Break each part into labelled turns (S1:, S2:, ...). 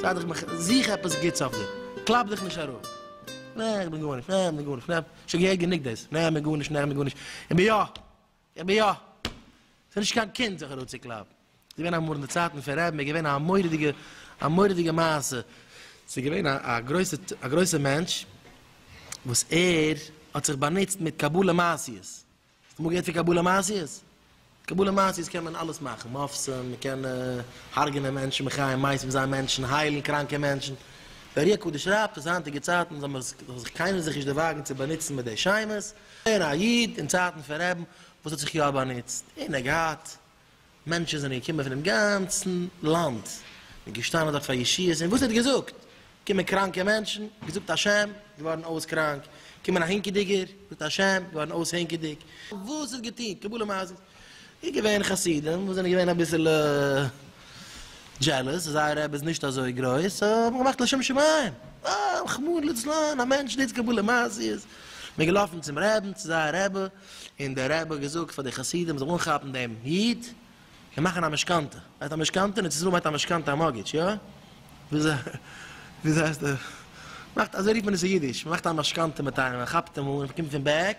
S1: זייט איך מיך זיך עפעס גוטס אויף דיר. קלאפ דיך נישט אראפ. נע, איך בין גארנישט, נע, איך בין גארנישט, נע, שוין געהערט גענוג דאס, נע, איך בין גארנישט, נע, איך בין גארנישט, איך בין יא! איך בין יא. ס'איז נישט קיין קינד זיך אראפצוקלאפן. ס'איז געווען אמאל אין די צייטן פון רעב מ איז געווען א מורא'דיגע א מורא'דיגע מעשה. ס'איז געווען א א גרויסע א גרויסע מענטש וואס ער האט זיך באנוצט מיט קבלה מעשיות. האסט אמאל געהערט פון קבלה מעשיות? קבלה מעשיות קען מען אלעס מאכן, מאפסן, מ'קען הרג'נען מענטשן, מחיה מתה זיין מענטשן, היילן קראנקע מענטשן. די ארי הקדוש שרייבט אז היינטיגע צייטן זאל מען זיך קיינער זיך נישט דערוואגן צו באנוצן מיט די שמות, געווען א איד אין צייטן פון רעבן וואס האט זיך יא באנוצט און ער האט געהאט מענטשן זענען געקומען פונעם גאנצן לאנד און געשטאנען דארט פאר ישועות און וואס ער האט געזאגט קומען קראנקע מענטשן געזאגט השם געווארן אויס קראנק קומען א הינקעדיגער געזאגט השם געווארן אויס הינקעדיג וואס ער האט געטון קבלה מעשית איז געווען חסידים וואס זענען געווען אביסעלע דזשעלעס אז זייער רבי איז נישט אזוי גרויס סאו האט מען געמאכט לשם שמים אה רחמו לצלן א מענטש ניצט קבלה למעשיות מען איז געלאפן צום רעבן צו זייער רבי און דער רבי האט געזאגט פאר די חסידים מען זאל אנכאפן דעם איד און מאכן א משכנתא ווייסט א משכנתא אין ארץ ישראל מיינט א משכנתא א מארטגעדזש יא? וויאזוי הייסט דער מאכט אזוי רופט מען עס אין אידיש מען מאכט א משכנתא מיט איינעם מען כאפט אים אן און מען קומט פון בעק.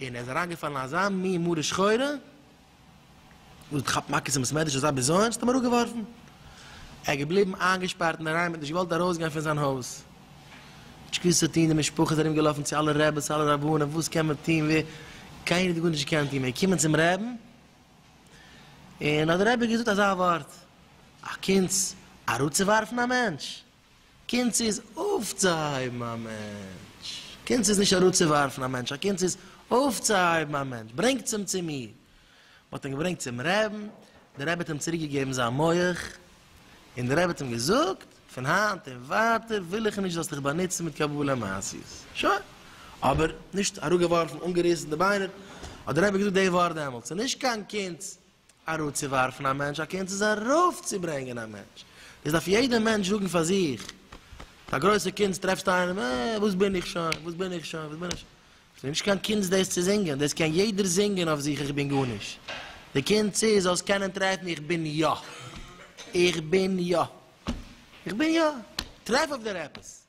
S1: און ער איז אריינגעפאלן אין אזא מין מרה שחורה, וואס האט געכאפט מכות אין בית מדרש אזא בזיון ס'האט אים אראפגעווארפן, ער איז געבליבן איינגעשפארט אין אריין מ'האט נישט געוואלט ארויסגיין פון זיין הויז, נישט געוואוסט וואס צו טון, די משפחה איז ארום געלאפן צו אלע רעבעס אלע רבנים וואס קען מען טון ווי, קיינער האט גארנישט געקענט טון, מ'איז געקומען צום רעבן, און האט דער רבי געזאגט אזא ווארט, א קונץ אראפצוווארפן א מענטש? קונץ איז אויפצוהייבן א מענטש. קונץ איז נישט אראפצוווארפן א מענטש, א קונץ איז אויפצוהייבן א מענטש, ברענגטס אים צו מיר. מען האט אים געברענגט צום רעבן, דער רבי האט אים צוריק געגעבן זיין מח, און דער רבי האט אים געזאגט, פון היינט און ווייטער וויל איך נישט זאלסט דיך באנוצן מיט קבלה מעשיות. שוין. אבער נישט אראפגעווארפן, אנגעריסן די ביינער, האט דער רבי געזאגט די ווארט דעמאלטס, ס'איז נישט קיין קונץ אראפצואווארפן א מענטש, א קונץ איז ארויפצוברענגען א מענטש, דאס דארף יעדער מענטש זאגן פאר זיך, פאר גרויסע קונץ טרעפסטו איינעם, אה, וואס בין איך שוין, וואס בין איך שוין, וואס בין איך שוין, עס איז נישט קיין קונץ דאס צו זינגען, דאס קען יעדער זינגען אויף זיך איך בין גארנישט, די קונץ איז זאלסט קענען טרעפן איך בין יא, איך בין יא, איך בין יא, טרעף אויף דיר עפעס.